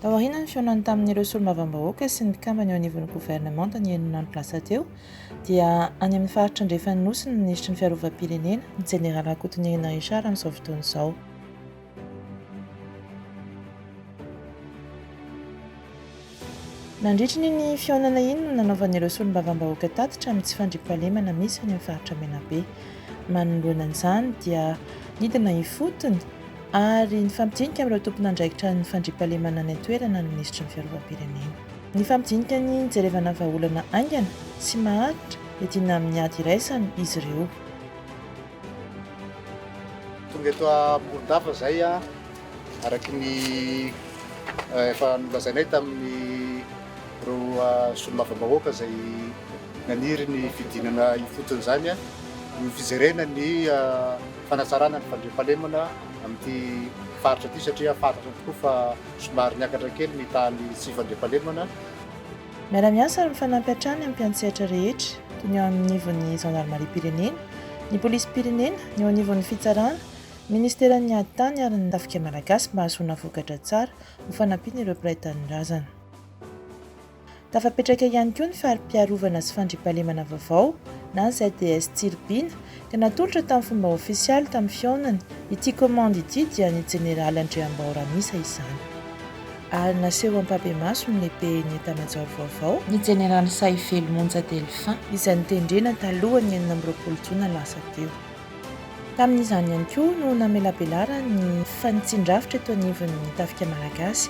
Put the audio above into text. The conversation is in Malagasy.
Taoriana ny fihaonany tamin'ireo solombavambahoaka sy ny mpikambana eo anivon'ny governemanta ny herinandro lasa teo dia any amin'ny faritra andrefan'ny Nosy ny minisitry ny fiarovam-pirenena, ny jeneraly Rakotonirina Richard amin'izao fotoana izao. Nandritry ny iny fihaonana iny no nanaovan'ireo solombavambahoaka tatitra amin'ny tsy fandriampahalemana misy any amin'ny faritra Menabe. Manoloana an'izany dia nidina ifotony ary nifampidinika amin'ireo tompon'andraikitra ny fandriampahalemana any an-toerana ny minisitry ny Fiarovam-pirenena. Nifampidinika ny nijerevana vahaolana haingana sy maharitra hiadiana amin'ny ady iraisana izy ireo. Tonga eto Ambohidava izay araka ny efa nolazainay tamin'ny ireo solombavambahoaka izay naniry ny fidinana ifotony izany ny fijerena ny fanatsarana ny fandriampahalemana amin'ity faritra ity satria fantatra tokoa fa somary niakatra kely ny tahan'ny tsy fandriampahalemana. Miara-miasa ary mifanampy hatrany amin'ny mpiantsehatra rehetra, toy ny eo anivon'ny Zandarimariam-pirenena, ny Polisim-pirenena, ny eo anivon'ny Fitsarana, ny Ministeran'ny Ady Tany ary ny Tafika Malagasy mba hahazoana vokatra tsara ho fanampian'ireo mpiray tanindrazana. Tafapetraka ihany koa ny Fari-piarovana sy Fandriampahalemana vaovao na ZDS Tsiribihina dia natolotra tamin'ny fomba ofisialy tamin'ny fihaonany, ity komandy ity dia ny Jeneraly Andriambao Ramisa izany. Ary naseho ampahibemaso ny Lehiben'ny Etamajoro vaovao, ny Jeneraly Sahivelo Monja Delphin, izay notendrena talohan'ny enina amby roapolo jona lasa teo. Tamin'izany ihany koa no namelabelarany ny fanitsian-drafitra eto anivon'ny Tafika Malagasy.